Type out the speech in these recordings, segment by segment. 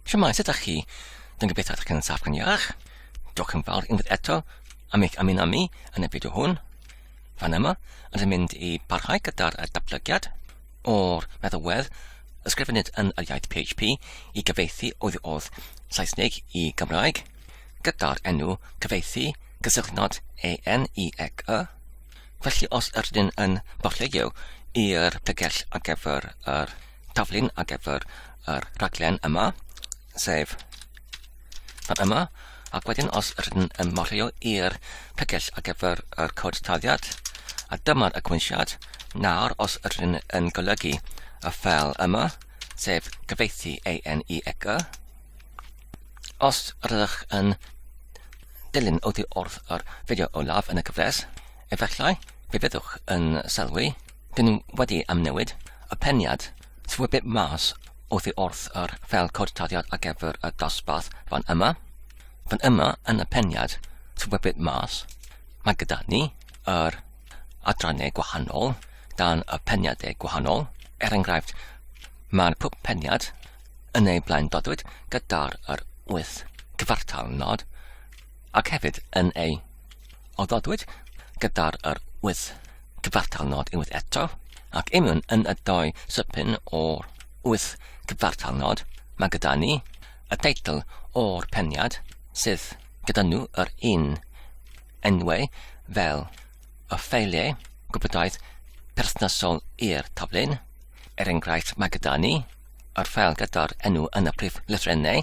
Siamai, sut ydych chi? Dwi'n gobeithio ydych chi'n saff gan iach. Diolch yn fawr unwaith eto am eich ymuno mi yn y fideo hwn. Fan yma, ond yn mynd i barhau gyda'r datblygiad o'r meddalwedd ysgrifennid yn yr iaith PHP i gyfeithi oedd oedd Saesneg i Gymraeg gyda'r enw cyfeithi cysylltnod ENIEC y. Felly os ydyn yn barhleio i'r tegell ar gyfer yr taflen ar gyfer yr rhaglen yma, sef fan yma, ac wedyn os rydyn yn morheo i'r pregell ar gyfer yr cod taliad, a dyma'r agwynsiad, nawr os rydyn yn golygu y ffel yma, sef cyfeithi ANE ECA, os rydych yn dilyn oddi wrth yr fideo olaf yn y gyfres, efallai fe fyddwch yn sylwi Dyn ni wedi amnewid y peniad Swybyb mas oddi wrth yr fel cod taddiad ar gyfer y dosbarth fan yma. Fan yma yn y peniad Swybyb mas mae gyda ni yr adrannau gwahanol dan y peniadau gwahanol. Er enghraifft, mae'r pwp peniad yn ei blaen dodwyd gyda'r yr wyth cyfartal nod ac hefyd yn ei oddodwyd gyda'r yr wyth cyfartal nod unwaith eto, ac union yn y doi sypyn o'r wyth cyfartal nod, mae gyda ni y teitl o'r peniad sydd gyda nhw yr un enwau fel y ffeiliau gwybodaeth perthnasol i'r taflun. Er enghraifft, mae gyda ni yr ffeil gyda'r enw yn y prif lythrennau,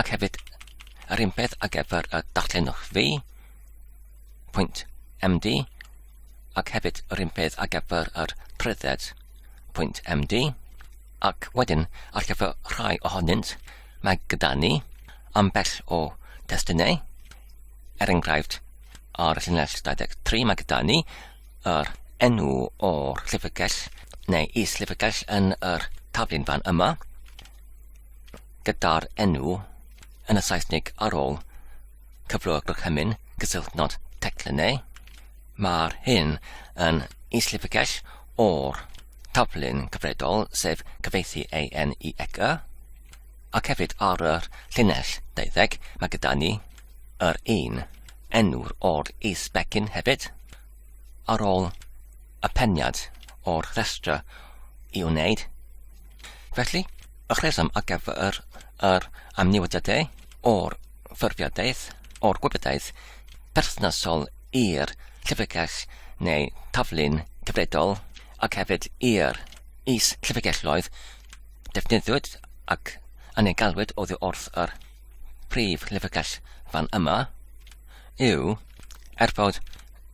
Ac hefyd, yr un peth ar gyfer y darllenwch fi, pwynt MD, ac hefyd yr un peth ar gyfer yr prydded, pwynt MD, ac wedyn ar gyfer rhai ohonynt, mae gyda ni ambell o testunau, er enghraifft ar y llinell 23 mae gyda ni yr enw o'r llyfrgell neu is-llyfrgell yn yr taflun fan yma, gyda'r enw yn y Saesneg ar ôl cyflwyno'r gorchymyn gysylltnod teclyn neu mae'r hyn yn islipygell o'r taflun cyfredol sef cyfeithi AN i ec y ac hefyd ar y llinell 20 mae gyda ni yr un enw'r o'r is-becyn hefyd ar ôl y peniad o'r rhestr i wneud. Felly, y rheswm ar gyfer yr amnewidiadau o'r ffurfiadaeth o'r gwybodaeth perthnasol i'r llyfrgell neu taflu'n gyfredol ac hefyd i'r is llyfrgelloedd defnyddiwyd ac yn ei galwyd oddi wrth yr prif lyfrgell fan yma yw er fod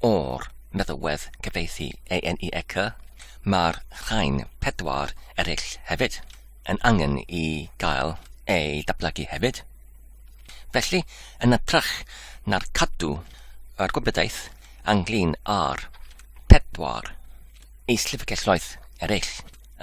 O'r meddalwedd cyfieithu ANEEC, mae'r rhain pedwar eraill hefyd yn angen i gael eu datblygu hefyd. Felly, yn ytrach na'r cadw yr gwybodaeth anglyn ar pedwar is-llyfrgelloedd eraill,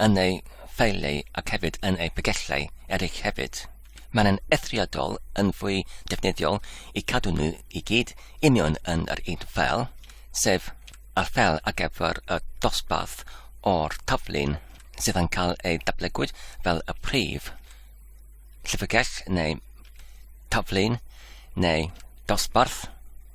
yn eu ffeiliau ac hefyd yn eu pagellau eraill hefyd. Mae'n yn eithriadol yn fwy defnyddiol i cadw nhw i gyd union yn yr un ffeil, sef y ffeil ar gyfer y dosbarth o'r taflun sydd yn cael ei datblygwyd fel y prif llyfrgell neu taflun neu dosbarth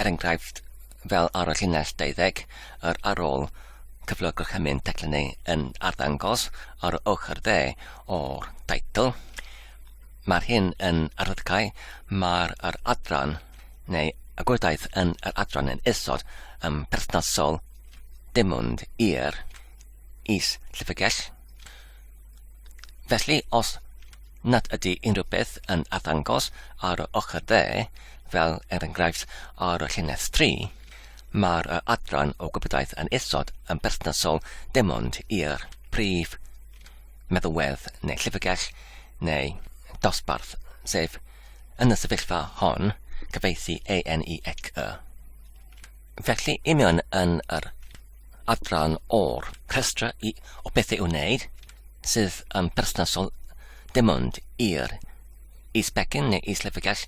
er enghraifft fel ar y llinell 20, yr ar ôl cyflog gorchymyn teclyn ei yn arddangos ar y ochr dde o'r teitl. Mae'r hyn yn arddydgau, mae'r yr adran neu y gwydaeth yn yr adran yn isod yn perthnasol dim ond i'r is llyfrgell. Felly, os nad ydy unrhyw beth yn arddangos ar yr ochr dde, fel er enghraifft ar y llinell 3, mae'r adran o gwybodaeth yn isod yn berthnasol dim ond i'r prif meddalwedd neu llyfrgell neu dosbarth, sef, yn y sefyllfa hon, cyfeithi ANEXY. Felly, i mewn yn yr adran o'r rhestra i, o bethau i'w wneud sydd yn perthnasol dim ond i'r is-begin neu is-lefygell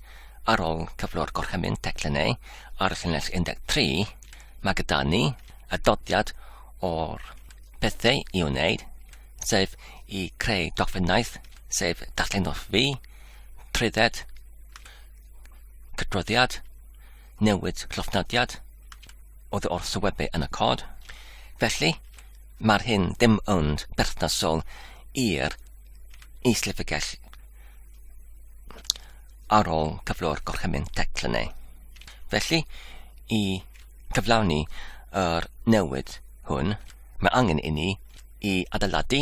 ar ôl cyflwr gorchymyn teclynnau ar y llinell 13, mae gyda ni y dodiad o'r pethau i wneud, sef i creu dogfennaeth, sef darllenwch fi, trwydded, cydroddiad, newid llofnodiad oddi wrth y webau yn y cod. Felly, mae'r hyn dim ond berthnasol i'r is-llyfrgell ar ôl cyflwr gorchymyn teclynau. Felly, i cyflawni yr newid hwn, mae angen i ni i adeiladu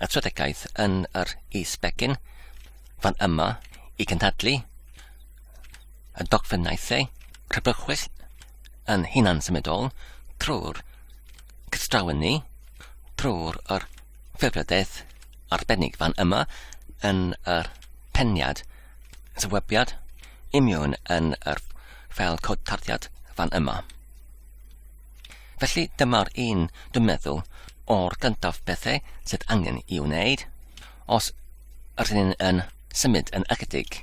y tredegaeth yn yr is-begin fan yma i cynhadlu y dogfennaethau crybwyll yn hunan-symudol trwy'r cystrawen ni, drwy'r yr ffurfiadaeth arbennig fan yma yn yr peniad sywebiad imiwn yn yr fel cod tarddiad fan yma. Felly dyma'r un dwi'n meddwl o'r gyntaf bethau sydd angen i wneud os rydyn yn symud yn ychydig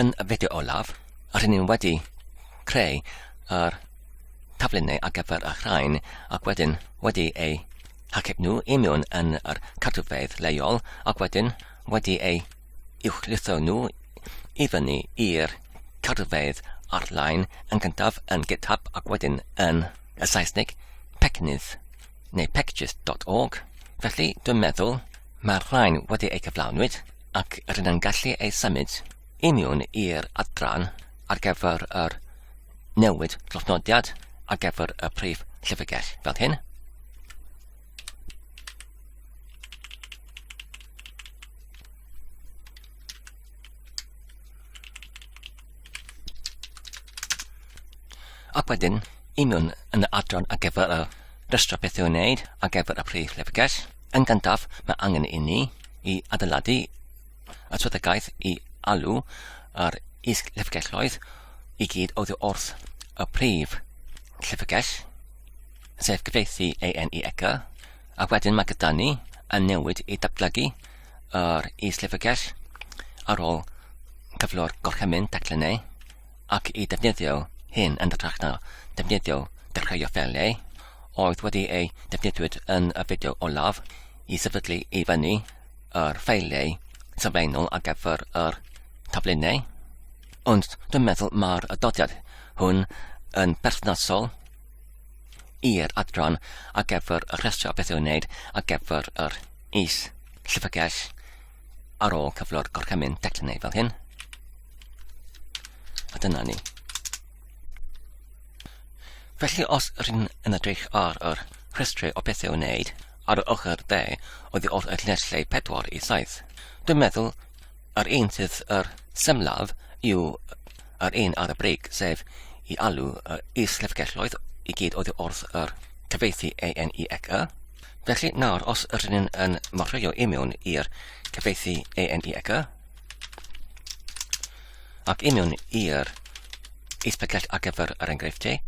Yn y fideo olaf, rŷn ni wedi creu yr taflenni ar gyfer y rhain ac wedyn wedi eu hachub nhw i mewn yn yr cartrfeidd leol ac wedyn wedi eu uwchlwytho nhw i fyny i'r cartrfeidd arlein yn gyntaf yn GitHub ac wedyn yn y Saesneg pecnydd neu packages.org. Felly, dwi'n meddwl Mae'r rhain wedi eu cyflawnwyd ac rydyn gallu eu symud i miwn i'r adran ar gyfer yr newid llofnodiad ar gyfer y prif llyfrgell fel hyn. Ac wedyn, union yn y adran ar gyfer y rhestr beth i'w wneud ar gyfer y prif llyfrgell, Yn gyntaf, mae angen i ni i adeiladu y swyddogaeth i alw yr is-llyfrgelloedd i gyd oddi wrth y prif llyfrgell, sef gyfieithu AN i ECA, a wedyn mae gyda ni yn newid i datblygu yr is-llyfrgell ar ôl cyflwr gorchymyn teclynau ac i defnyddio hyn yn ytrach na defnyddio dechreuo ffeiliau, oedd wedi ei defnyddiwyd yn y fideo olaf i sefydlu i fyny yr ffeiliau sylfaenol ar gyfer yr taflunau, ond dwi'n meddwl mae'r adodiad hwn yn berthnasol i'r adran ar gyfer y rhestr o beth i'w wneud ar gyfer yr is llyfrgell ar ôl cyflwr gorchymyn declinaidd fel hyn. A dyna ni. Felly os rydyn yn edrych ar yr rhestrau o bethau wneud ar y ochr dde oddi wrth y lleslau 4 i 7, dwi'n meddwl yr un sydd yr semlaf yw yr un ar y brig, sef i alw y is-llyfrgelloedd i gyd oddi wrth yr cyfeithi ANEXE, Felly nawr, os ydyn ni'n yn morfeio i mewn i'r cyfeithi ANEG ac i mewn i'r eithbygell ar gyfer yr enghreifftiau,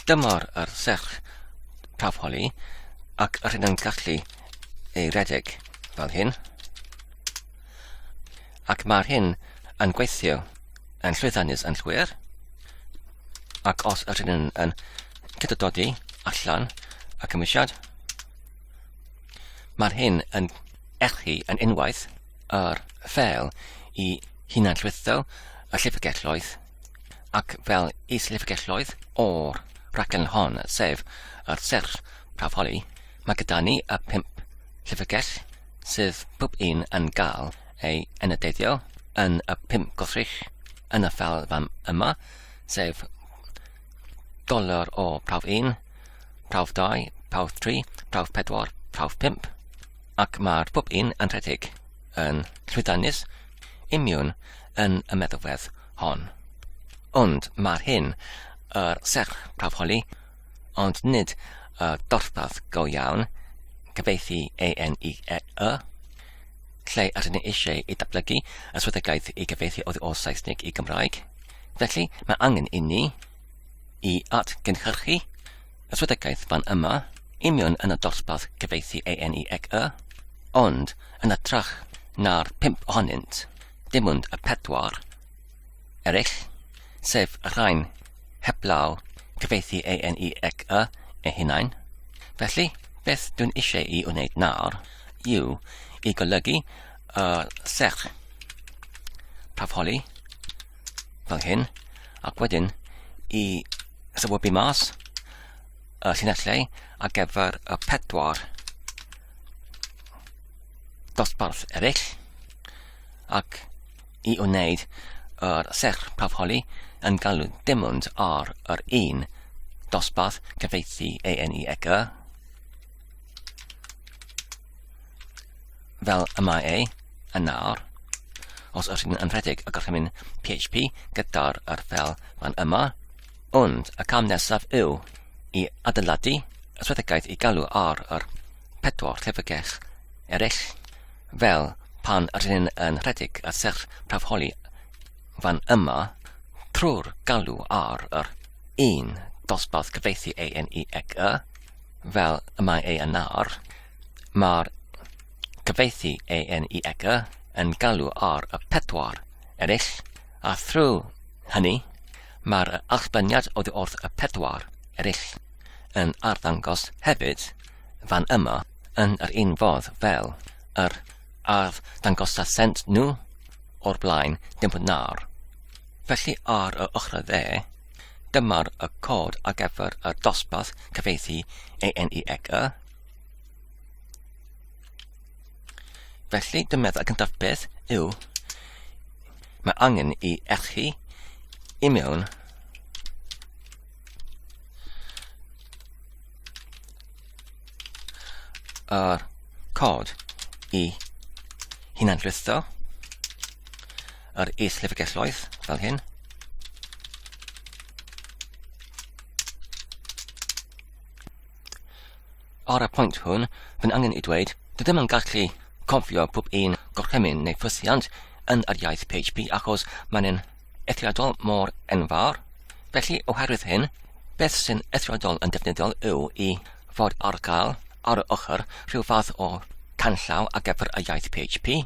dyma'r yr serch prawf holi ac yr hyn yn gallu ei redeg fel hyn. Ac mae'r hyn yn gweithio yn llwyddiannus yn llwyr. Ac os yr hyn yn, yn cydododi allan y cymwysiad, mae'r hyn yn echu yn unwaith yr fel i hunan llwytho y llyfrgelloedd ac fel is llyfrgelloedd o'r rhaglen hon, sef yr serch prawfoli, mae gyda ni y pimp llyfrgell sydd pob un yn gael ei enyddeiddio yn y pum gwrthrych yn y fam yma, sef doler o prawf 1, prawf 2, prawf 3, prawf 4, prawf 5, ac mae'r pob un yn rhedeg yn llwyddiannus imiwn yn y meddylwedd hon. Ond mae'r hyn yr serch prawf holi ond nid y dosbarth go iawn, cyfieithu ANIEE, lle yr ydyn ni eisiau i datblygu y swyddogaeth i gyfieithu oddi o Saesneg i Gymraeg. Felly, mae angen i ni i atgynhyrchu y swyddogaeth fan yma, union yn y dosbarth cyfieithu ANIEE, ond yn y trach na'r pimp ohonynt, dim ond y pedwar. eraill, sef y rhain, heblaw cyfeithi ANE ec y ei hunain. Felly, beth dwi'n eisiau i wneud nawr yw i golygu y serch prafholi fel hyn, ac wedyn i sefydlu mas y llinellau ar gyfer y pedwar dosbarth eraill, ac i wneud yr serch prawfholi yn galw dim ond ar yr un dosbarth cyfieithu ANEEC fel y mae ei yn nawr. Os ydych chi'n rhedeg y gorchymyn PHP gyda'r yr fel fan yma, ond y cam nesaf yw i adeiladu y swyddogaeth i galw ar yr pedwar llyfrgell eraill Fel pan r'yn yn rhedeg y serch prawfholi fan yma, trwy'r galw ar yr un dosbarth cyfieithu A, N, E ac Y, fel y mae ei yn ar, mae'r cyfieithu A, N, E ac Y yn galw ar y pedwar eraill, a thrwy hynny, mae'r allbyniad oddi wrth y pedwar eraill yn arddangos hefyd fan yma. yn yr un fodd fel yr arddangosasent nhw o'r blaen, dim ond nawr. Felly ar yr ochr dde, dyma'r y cod ar gyfer y dosbarth cyfeithi ANEEC y. Felly, dwi'n meddwl y cyntaf beth yw mae angen i echu i mewn yr cod i hunanrwytho yr is-lyfrgelloedd fel hyn. Ar y pwynt hwn, by'n angen i dweud, dydym yn gallu cofio pob un gorchymyn neu ffysiant yn yr iaith PHP achos mae'n eithriadol mor enfawr. Felly, oherwydd hyn, beth sy'n eithriadol yn defnyddiol yw i fod ar gael ar y ochr rhyw fath o canllaw a gefr y iaith PHP.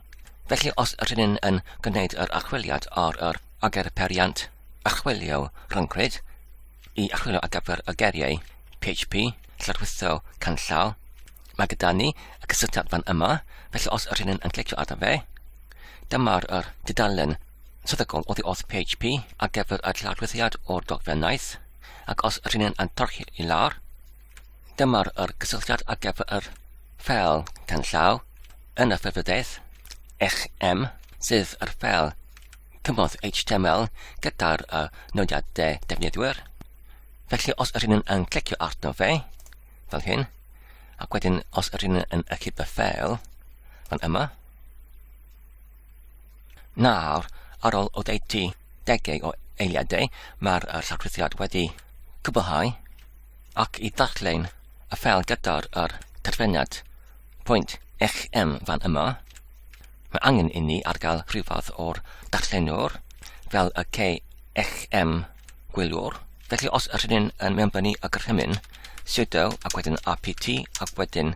Felly, os ydyn ni'n yn gwneud yr archwiliad ar yr agerperiant archwilio rhyncwyd i archwilio a gefr y geriau PHP, llarwyddo canllaw, mae gyda ni y cysylltiad fan yma, felly os ydyn ni'n yn clicio arno fe, dyma'r dudalen Tebygol oddi wrth PHP ar gyfer y llawdwyddiad o'r dogfennaeth, ac os yr hynny'n antorchi i lawr, dyma'r yr cysylltiad ar gyfer yr ffel canllaw yn y ffefrydaeth XM sydd yr ffel cymorth HTML gyda'r uh, nodiadau defnyddwyr. Felly os yr hynny'n yn clicio arno fe, fel hyn, ac wedyn os yr hynny'n yn ychydig y ffel, fan yma, Nawr, ar ôl oddeutu degau o eiliadau, mae'r uh, llofruddiad wedi cwblhau ac i ddarllen y ffel gyda'r yr terfynad pwynt eich M fan yma, mae angen i ni ar gael rhywfath o'r darllenwr fel y ce eich M gwyliwr. Felly os yr hyn yn mewnbynnu y gorchymyn, sudo ac wedyn rpt ac wedyn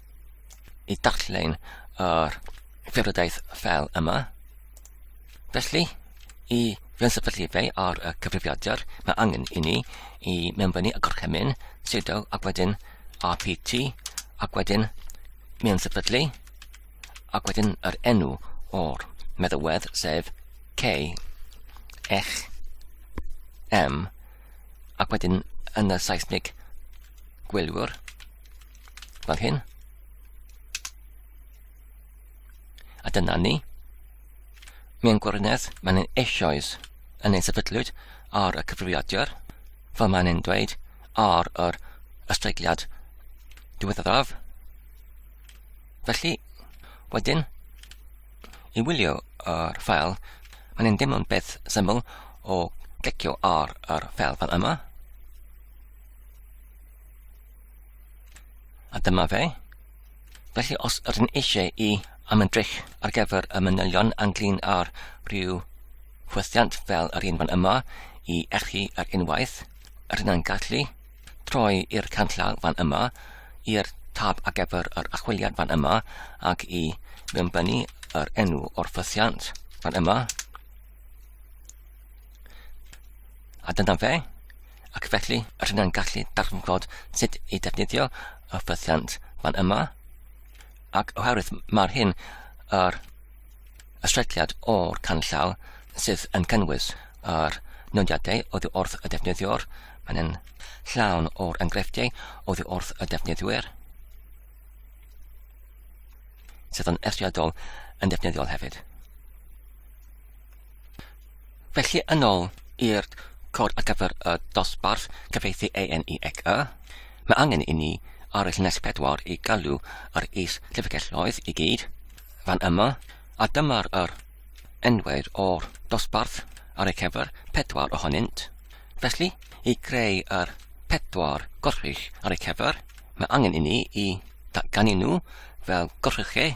i darllen yr ffurfiodaeth fel yma. Felly, i fensefydlu fe ar y cyfrifiadur, mae angen i ni i mewn fyny y gorchymyn, sudo ac wedyn rpt ac wedyn mewn sefydlu ac wedyn yr enw o'r meddywedd sef K X M ac wedyn yn y Saesneg gwylwyr fel hyn. A dyna ni. Mewn gwirionedd, mae'n ein eisoes yn ein sefydlwyd ar y cyfrifiadur, fel mae'n ein dweud ar yr ysteigliad diweddaraf. Felly, wedyn, i wylio yr ffael, mae'n ein deimlo'n beth syml o glicio ar yr ffael fel yma. A dyma fe. Felly os ydyn eisiau i am yn drych ar gyfer y manylion anglyn ar rhyw chwythiant fel yr un fan yma i echu ar er unwaith, yr yna'n gallu troi i'r canllaw fan yma, i'r tab ar gyfer yr achwiliad fan yma ac i mewnbynnu yr enw o'r ffythiant fan yma. A dyna fe. ac felly rydyn ni'n gallu darganfod sut i defnyddio y ffythiant fan yma, ac oherwydd mae'r hyn yr ystrelliad o'r canllaw sydd yn cynnwys yr nodiadau oddi wrth y defnyddiwr. Mae'n yn llawn o'r enghreifftiau oddi wrth y defnyddwyr sydd yn eithriadol yn defnyddiol hefyd. Felly yn ôl i'r cod ar gyfer y dosbarth cyfieithu ANE ec y, mae angen i ni ar y llinell pedwar i galw yr is llyfrgelloedd i gyd fan yma, a dyma'r yr enwyd o'r dosbarth ar ei cyfer pedwar ohonynt. Felly, i greu yr pedwar gorchuch ar ei cyfer, mae angen i ni i datganu nhw fel gorchuchau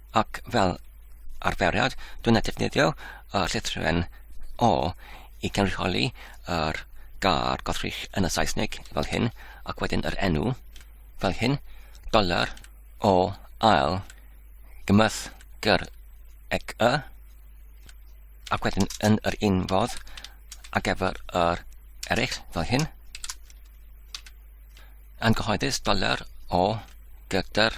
Ac fel arferiad, dwi'n ei defnyddio y llythruen O i gynrychioli yr gair gothrych yn y Saesneg fel hyn, ac wedyn yr enw fel hyn, doler o ail gymysg gyr ec y, ac wedyn yn yr un fodd ac efo'r yr eraill fel hyn, yn gyhoeddus doler o gyda'r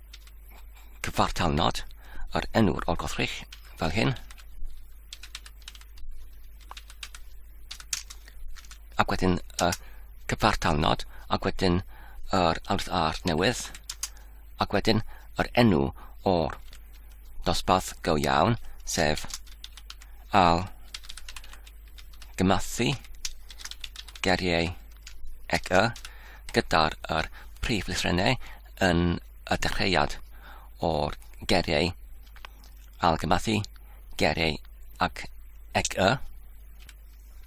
cyfartal nod yr enw'r olgothrych fel hyn. Ac wedyn y cyfartal nod, ac wedyn yr alwrth ar newydd, ac wedyn yr enw o'r dosbarth go iawn, sef al gymathu geriau ec y gyda'r prif lythrennau yn y dechreuad o'r geriau algymathu, geriau ac ec y.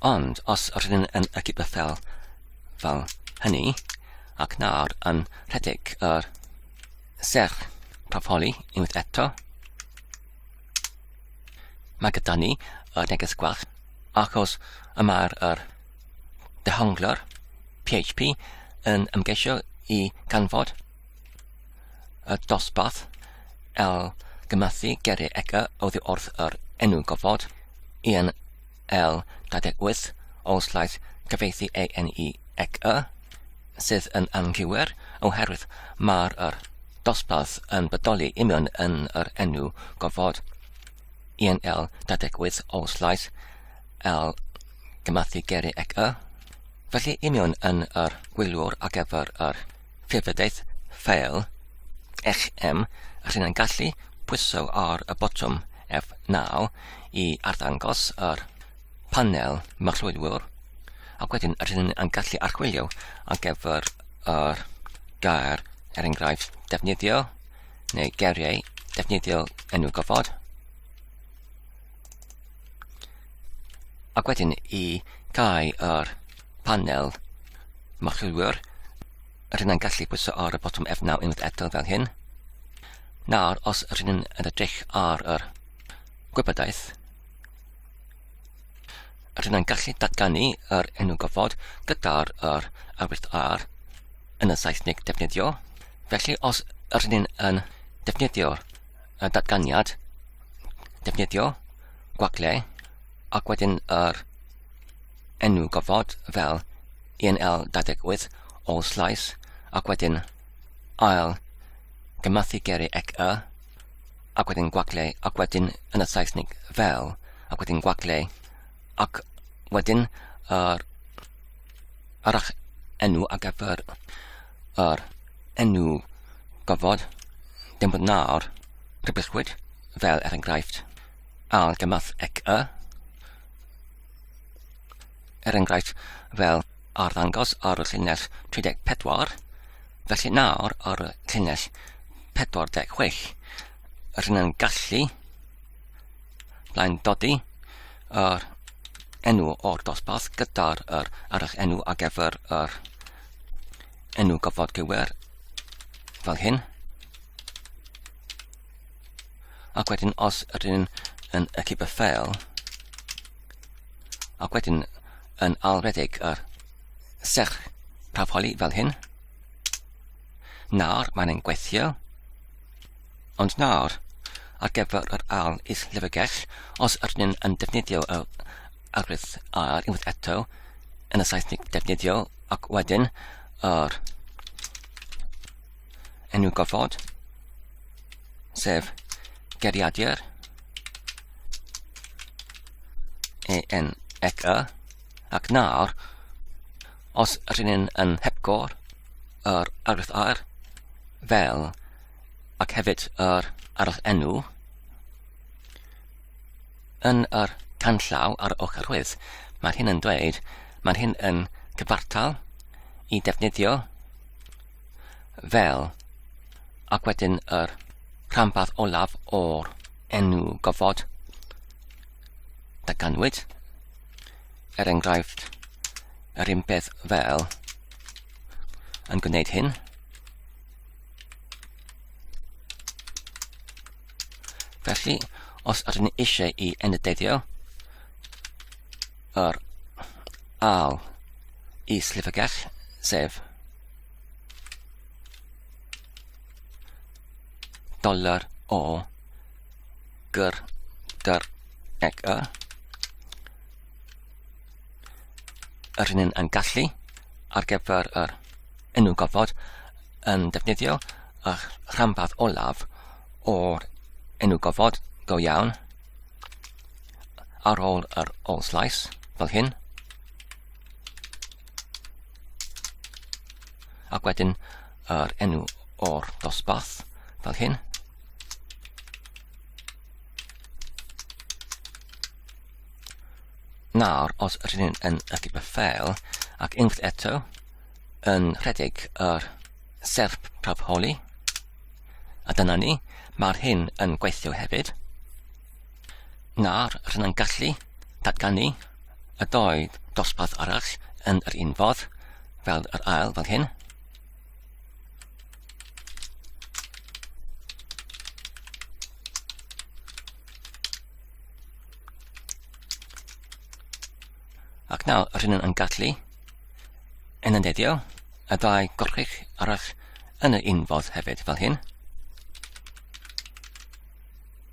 Ond os rydyn yn y cybythel fel hynny, ac nawr yn rhedeg yr serch profoli unwaith eto, mae gyda ni y neges gwell, achos y mae'r dehonglwr PHP yn ymgeisio i ganfod y dosbarth el gymathu geiriau ega oddi wrth yr enw gofod yn el 28 o slaeth gyfeithi ANE ec y sydd yn anghywir oherwydd mae'r yr dosbarth yn bodoli union yn yr enw gofod. yn el dadegwydd o'r llais el gymathu geri ec y. Felly union yn yr gwyliwr ar gyfer yr ffurfyddaeth ffeil eich em, rhyn yn gallu pwyso ar y botwm F9 i arddangos yr panel marchlwyliwr, ac wedyn rhyn yn gallu archwilio ar gyfer yr gair er enghraifft defnyddio neu geiriau defnyddiol enw gofod. Ac wedyn i gau yr panel marchilwyr, rydyn ni'n gallu pwyso ar y botwm F9 unwaith eto fel hyn. Nawr, os rydyn ni'n edrych ar yr gwybodaeth, Rydyn ni'n gallu datganu yr enw gofod gyda'r yr awydd ar yn y Saesneg defnyddio. Felly os rydyn ni'n yn defnyddio'r datganiad, defnyddio gwagle ac wedyn yr enw gofod fel ENL 28 all slice ac wedyn ail gymathu geri ec y ac wedyn gwagle, ac wedyn yn y Saesnig fel, ac wedyn gwagle, ac wedyn yr, yr ach enw ar gyfer yr enw gofod, dim bod nawr, rhybysgwyd, fel er enghraifft, al gymath ec y, er enghraifft fel arddangos ar y llinell 34, felly nawr ar y llinell 46, rydyn yn gallu blaen dodi yr enw o'r dosbarth gyda'r er arall enw ar gyfer yr enw gofod gywer fel hyn. Ac wedyn, os ydyn ni'n yn y cyber ffeil, ac wedyn yn alredeg yr serch tafoli fel hyn, nawr mae'n ein gweithio, ond nawr, ar gyfer yr al is lyfrgell, os ydyn ni'n yn defnyddio y agwedd ar unwaith eto, yn y Saesneg defnyddio, ac wedyn yr enw gofod, sef geriadur EN ec y, ac nawr, os rydyn ni'n yn hepgor yr argraff air fel ac hefyd yr arall enw yn yr canllaw ar y ochr rwydd, mae'r hyn yn dweud, mae'r hyn yn cyfartal i defnyddio fel, ac wedyn yr rhanbarth olaf o'r enw gofod ganwyd, er enghraifft, yr un peth fel yn gwneud hyn. Felly, os ydyn ni eisiau i enyddeiddio yr al is llyfrgell, sef dollar o gyr gyr eg y yr hyn yn gallu ar gyfer yr enw gofod yn defnyddio a rhanbarth olaf o'r enw gofod go iawn ar ôl yr ôl slais fel hyn Ac wedyn yr enw o'r dosbarth fel hyn. Nawr, os rydyn ni'n yn ychydig beth fel, ac unwaith eto, yn rhedeg yr serp praf holi, a dyna ni, mae'r hyn yn gweithio hefyd. Nawr rydyn yn gallu datganu y doi dosbarth arall yn yr un fodd fel yr ail fel hyn. Ac nawr rydyn yn gallu yn y deddio y dau gorchig arall yn y unfodd hefyd fel hyn.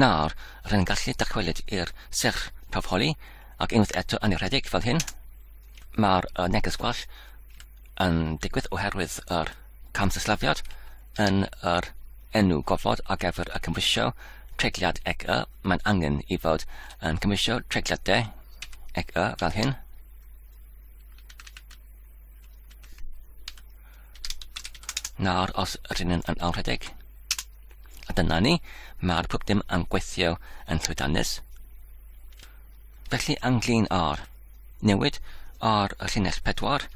Nawr, rwy'n gallu dychwelyd i'r serch prawf holi, ac unwaith eto yn ei rhedeg fel hyn, mae'r uh, neges gwell yn digwydd oherwydd yr cam sillafiad yn yr enw gofod ar gyfer y cymwysio tregliad ec y, mae'n angen i fod yn cymwysio tregliad de ec y fel hyn. Nawr, os rydyn ni'n yn awrhedeg, a dyna ni, mae'r pwp dim yn gweithio yn llwydanus. Felly anglin ar newid ar y llinell pedwar,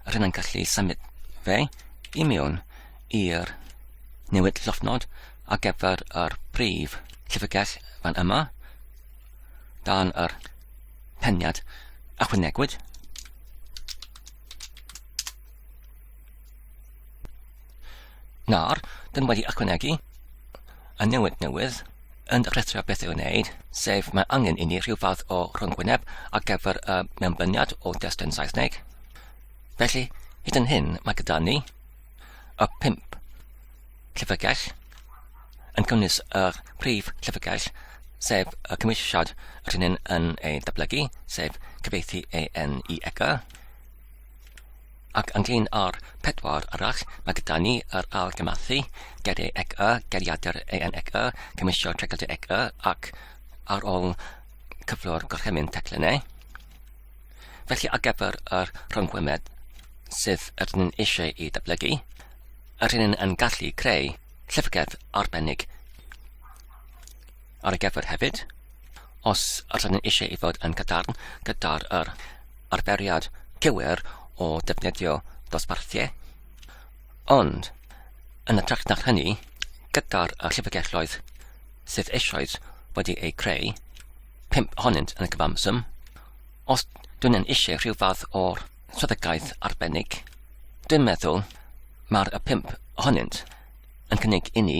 rydyn ni'n gallu symud fe i mewn i'r newid llofnod ar gyfer yr brif llyfrgell fan yma, dan yr peniad achwynegwyd. Nawr, dyn wedi ychwanegu y newid newydd yn rhestrio beth i'w wneud, sef mae angen i ni rhyw fath o rhwngwyneb ar gyfer y mewnbyniad o destun Saesneg. Felly, hyd yn hyn, mae gyda ni y pimp llyfrgell yn cynnwys yr prif llyfrgell, sef y cymwysiad rhywun yn ei dyblygu, sef cyfeithi EN i EGA, Ac ynglŷn â'r pedwar arall, mae gyda ni yr argymathu, geri ec y, geriadur eang ec y, cymisio tregyldu ec y, ac ar ôl cyflwr gorchymyn teclyn e. Felly ar gyfer yr rhyngwemed sydd yr ni'n eisiau i ddatblygu, yr hyn yn gallu creu llyfrgell arbennig. ar gyfer hefyd, os ydyn ni eisiau ei fod yn cadarn gyda'r er, arferiad cywir o defnyddio dosbarthiau. Ond, yn y trach na hynny, gyda'r llyfrgelloedd sydd eisoes wedi eu creu, pimp ohonynt yn y gyfamsym, os dwi'n yn eisiau rhyw fath o'r swyddogaeth arbennig, dwi'n meddwl mae'r y pimp ohonynt yn cynnig i ni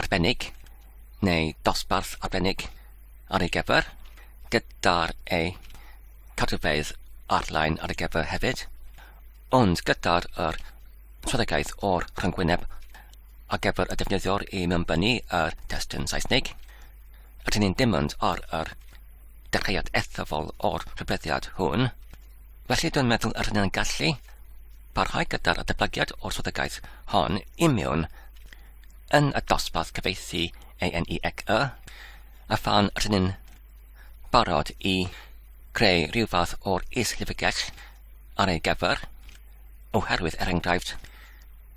arbennig neu dosbarth arbennig ar ei gyfer, gyda'r eu cadwfeydd ar-lein ar ei gyfer hefyd, ond gyda'r yr strategaeth o'r rhyngwyneb ar gyfer y defnyddiwr i mewnbynnu yr testun Saesnig, rydyn ni'n dimynd ar yr dechreuad ethafol o'r rhybleddiad hwn, felly dwi'n meddwl yr hynny'n gallu parhau gyda'r adebygiad o'r strategaeth hon i mewn yn y dosbarth cyfieithu ANEXE, a phan rydyn ni'n barod i greu rhyw fath o'r is-llyfrgell ar ei gyfer, oherwydd er enghraifft,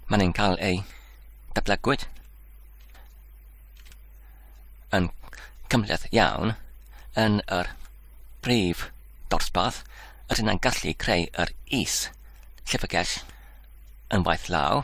maen nhw'n cael eu datblygwyd yn cymhleth iawn yn yr brif dosbarth yr hynna'n gallu creu yr is llyfrgell yn waith law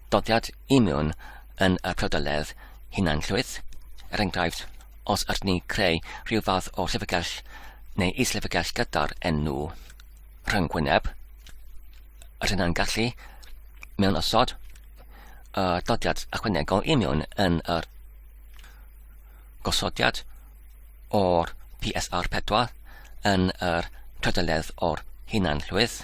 dodiad imiwn yn y priodoledd hunanllwyth, er enghraifft, os ydyn ni'n creu rhyw fath o llyfrgell neu is-lyfrgell gyda'r enw rhyngwyneb, ydyn nhw'n gallu mewn osod y dodiad ychwanegol imiwn yn yr gosodiad o'r PSR 4 yn yr trydoledd o'r hunanllwyth,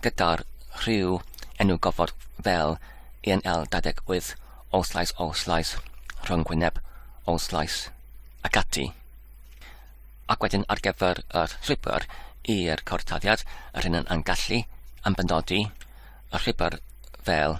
gyda'r rhyw enw gofod fel ENL 28, Old Slice, Old Slice, rhwng gwyneb, Old Slice, ac ati. Ac wedyn ar gyfer yr llwybr i'r cortaddiad, yr hyn yn gallu am benodi y llwybr fel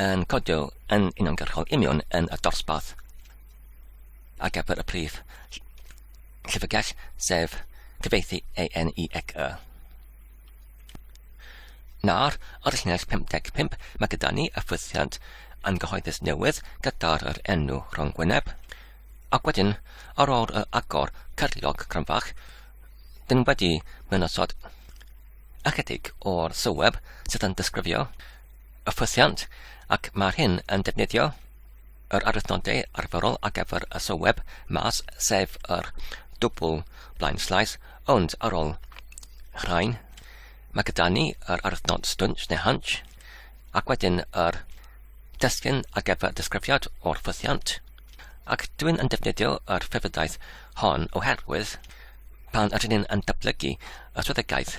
yn codio yn uniongyrchol union yn y dosbarth ar gyfer y prif llyfrgell, sef cyfeithi ANEXE. Nawr, ar llinell 55, mae gyda ni y ffwythiant angyhoeddus newydd gyda'r yr enw rhwng gwyneb, ac wedyn, ar ôl yr agor cyrliog cryfach, dyn wedi mynosod ychydig o'r sylweb sydd yn disgrifio y ffwythiant ac mae'r hyn yn defnyddio yr arwyddnodau arferol ar gyfer y sylweb mas sef yr dwbl blaen slais ond ar ôl rhain mae gyda ni yr arwyddnod stwnt neu hunch ac wedyn yr destyn ar gyfer disgrifiad o'r ffwythiant ac dwi'n yn defnyddio yr ffefrydaeth hon oherwydd pan ydyn ni'n yn datblygu y swyddogaeth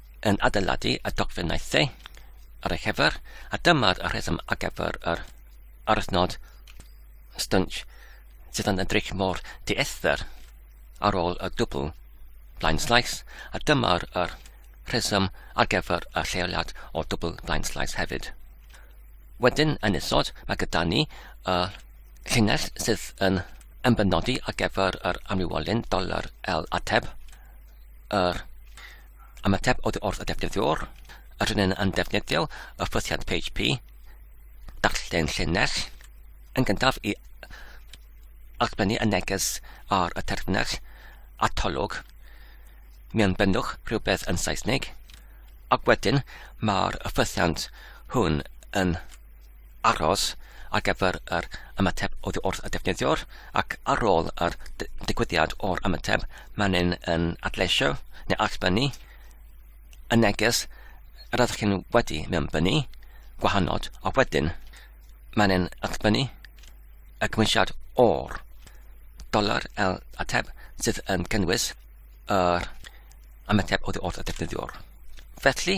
yn adeiladu y dogfennau the ar ei chyfer, a dyma'r rheswm ar gyfer yr aruthnod stwnc sydd yn edrych mor diethyr ar ôl y dwbl blind slice, a dyma'r er rheswm ar gyfer y lleoliad o dwbl blind slice hefyd. Wedyn yn isod, mae gyda ni y llinell sydd yn ymbenodi ar gyfer yr amrywiolyn doler L ateb, yr Ymateb oddi wrth y defnyddiwr, yr un yn defnyddio y ffythiant PHP, darllen llinell, yn gyntaf i allbynnu y neges ar y terfynell atolwg. Mi'n bynnwch rhywbeth yn Saesneg, ac wedyn mae'r ffythiant hwn yn aros ar gyfer yr ymateb oddi wrth y defnyddiwr ac ar ôl yr digwyddiad o'r ymateb mae'n un yn adleisio neu allbynnu y neges yr ydych chi'n wedi mewnbynnu gwahanol a wedyn mae'n un allbynnu y cymwysiad o'r dolar el ateb sydd yn cynnwys yr ymateb oddi wrth y defnyddiwr. Felly,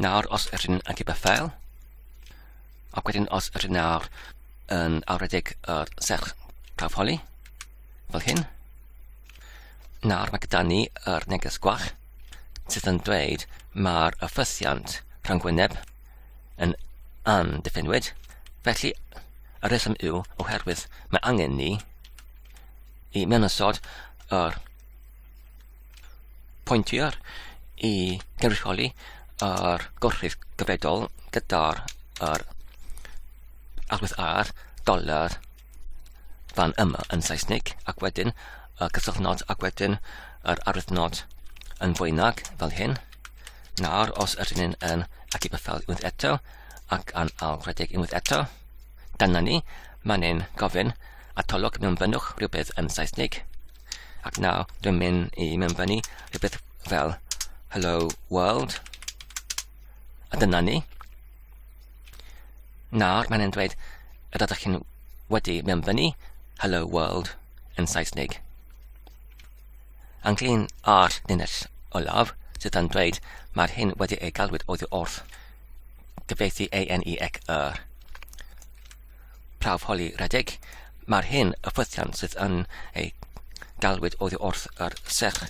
Nawr, os ydyn ni'n agib y ffeil, ac wedyn os ydyn nawr yn awredig yr serch prawf holi, fel hyn, nawr mae gyda ni yr neges gwach sydd yn dweud mae'r ffysiant rhwng gwyneb yn andiffinwyd, felly y rheswm yw oherwydd mae angen ni i mewn ystod yr pointiau i gynrychioli yr gorchudd gyfredol gyda'r yr agwedd ar doler fan yma yn Saesneg ac wedyn y cysylltnod ac wedyn yr arwyddnod yn fwynag fel hyn. Nawr, os ydyn ni'n yn ac i bythel unwaith eto ac yn ail rhedeg unwaith eto, Dyna ni, mae'n ein gofyn atolwg mewnfynnwch rhywbeth yn Saesnig, ac nawr dwi'n mynd i mewnfynnu rhywbeth fel Hello World, a dyna ni. Nawr mae'n ein dweud y rydych chi'n wedi mewnfynnu Hello World yn Saesnig. Ynglyn â'r linell olaf, sydd yn dweud mae'r hyn wedi ei galwyd oddi wrth. gyfieithu ANE ac yr prawf holi redig, mae'r hyn y ffwythian sydd yn ei galwyd oddi wrth yr serch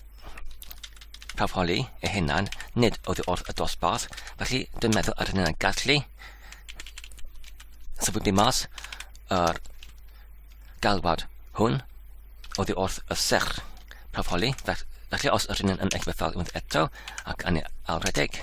prawf holi ei hunan, nid oddi wrth y dosbarth, felly dwi'n meddwl yr hynny'n gallu sefydlu mas yr galwad hwn oddi wrth y serch prawf holi, felly os yr hynny'n yn eich bethau eto ac yn ei alwedig.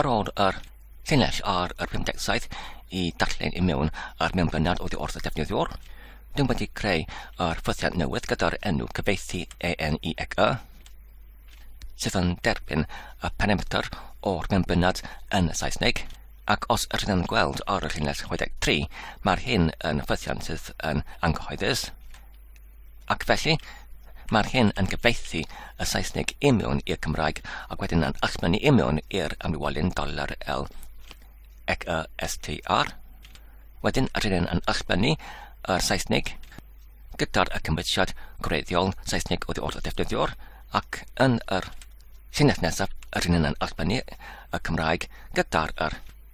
Ar ôl yr llinell ar yr 57 i darllen i mewn ar mewn blynedd oddi wrth y defnyddiwr, dyn wedi creu yr ffythiant newydd gyda'r enw cyfeithi ENIECA, sydd yn derbyn y parametr o'r mewn blynedd yn Saesneg, ac os rydyn yn gweld ar y llinell 63, mae'r hyn yn ffythiant sydd yn anghyhoeddus. Ac felly, mae'r hyn yn cyfeithi y Saesneg i mewn i'r Cymraeg ac wedyn yn ysmynnu i mewn i'r amlywolyn dollar L ac y STR. Wedyn, rydyn yn ysmynnu y Saesneg gyda'r y cymwysiad gwreiddiol Saesneg oddi wrth y defnyddiwr ac yn yr llinell nesaf rydyn yn ysmynnu y Cymraeg gyda'r yr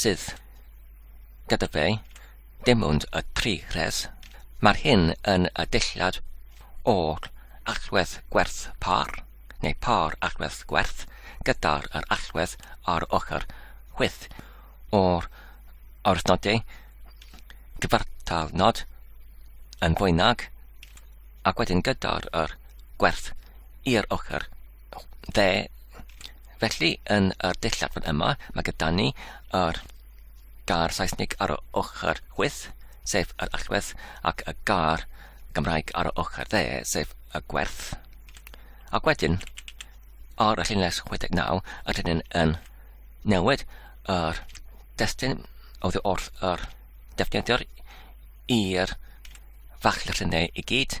Sydd. Gyda fe, dim ond y tri rhes. Mae'r hyn yn y dulliad o'r allwedd gwerth par, neu par allwedd gwerth, gyda'r yr allwedd ar ochr chwyth o'r orthnodau cyfartal nod yn fwy nag, ac wedyn gyda'r yr gwerth i'r ochr Fe, felly, yn yr dillad fan yma, mae gyda ni yr gar Saesnig ar y ochr chwyth, sef yr allwedd, ac y gar Gymraeg ar y ochr dde, sef y gwerth. Ac wedyn, ar y llunles 69, ydyn ni'n yn newid yr destun oedd wrth yr defnyddiwr i'r fach lluniau i gyd,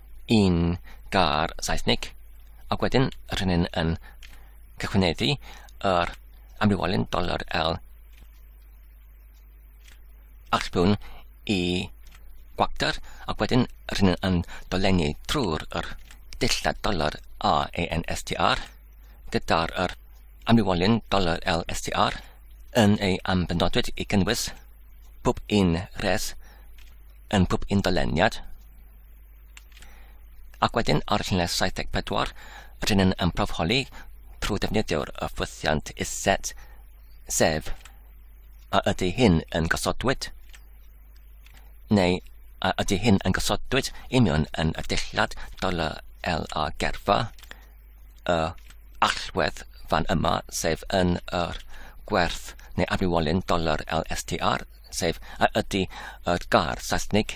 yn gair Saesnig, ac wedyn rydyn ni'n yn cychwyneddu yr amrywiolyn doler L archbwn i gwacter, ac wedyn rydyn ni'n yn dolenni trwy'r yr dillad doler A A N S T R gyda'r yr amrywiolyn doler L S T R yn ei ambenodwyd i gynnwys pob un res yn pob un doleniad. Ac wedyn, ar llinell 74, rydyn yn ymprofholi trwy ddefnyddio'r ffwythiant iset, sef a ydy hyn yn gosodwyd, neu a ydy hyn yn gosodwyd union yn y dillad dollar L a gerfa, y allwedd fan yma, sef yn yr gwerth neu afriwolyn dollar LSTR, sef a ydy y gar Saesnig,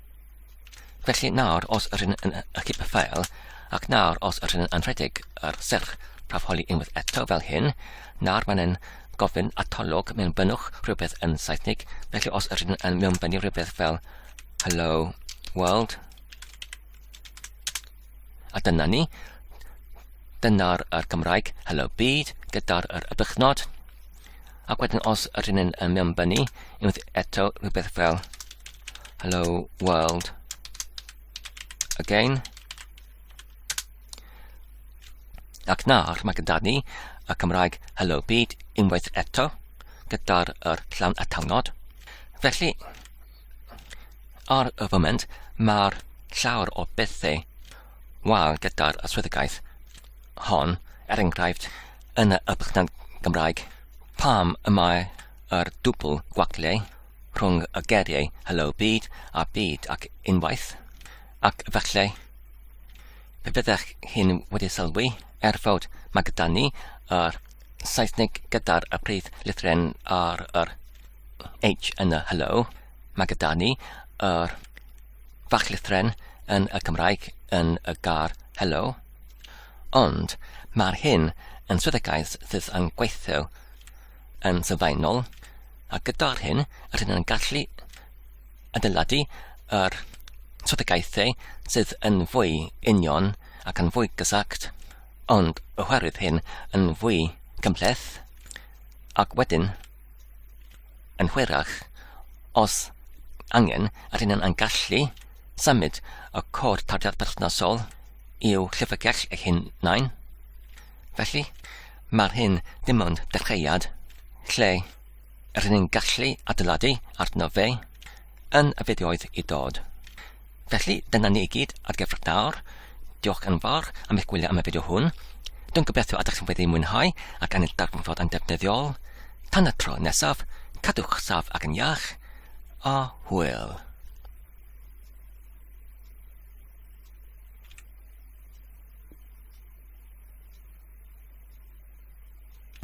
Felly nawr os yr hyn yn ychyb ffael, ac nawr os yr hyn yn rhedeg ar serch prawf holi unwaith eto fel hyn, nawr mae'n yn gofyn atolwg mewn bynnwch rhywbeth yn Saesnig, felly os yr hyn yn mewn bynnu rhywbeth fel hello world, a dyna ni, dyna'r Gymraeg hello byd gyda'r yr ybychnod, Ac wedyn os ydyn ni'n uh, mewnbynnu, unwaith eto rhywbeth fel hello world again. Ac nawr mae gyda ni y Cymraeg Hello Byd unwaith eto gyda'r er llawn atalnod. Felly, ar y foment, mae'r llawer o bethau wael gyda'r swyddogaeth. hon, er enghraifft, yn y Bychan Gymraeg, pam y mae yr dwbl gwaglle rhwng y geiriau Helo Byd a Byd ac Unwaith? Ac efallai, pe byddech chi'n wedi sylwi, er fod mae gyda ni yr Saesneg gyda'r y prif lythren ar yr H yn y Helo, mae gyda ni yr bach llithren yn y Cymraeg yn y gar hello, ond mae'r hyn yn swyddogaeth sydd yn gweithio yn sylfaenol, a gyda'r hyn yr hyn yn gallu adeiladu yr swyddogaethau sydd yn fwy union ac yn fwy gysagt, ond oherwydd hyn yn fwy cymhleth, ac wedyn Yn hwyrach, os angen, rydyn yn gallu symud y cod tarddiad perthnasol i'w llyfrgell eu hunain. Felly, mae'r hyn dim ond dechreuad lle rydyn ni'n gallu adeiladu arno fe yn y fideoedd i dod. Felly, dyna ni i gyd ar gyfer dawr. Diolch yn fawr am eich gwylio am y fideo hwn. Dwi'n gobeithio ydych chi'n wedi mwynhau ac yn darganfod yn defnyddiol. Tan y tro nesaf, cadwch saf ac yn iach, a hwyl.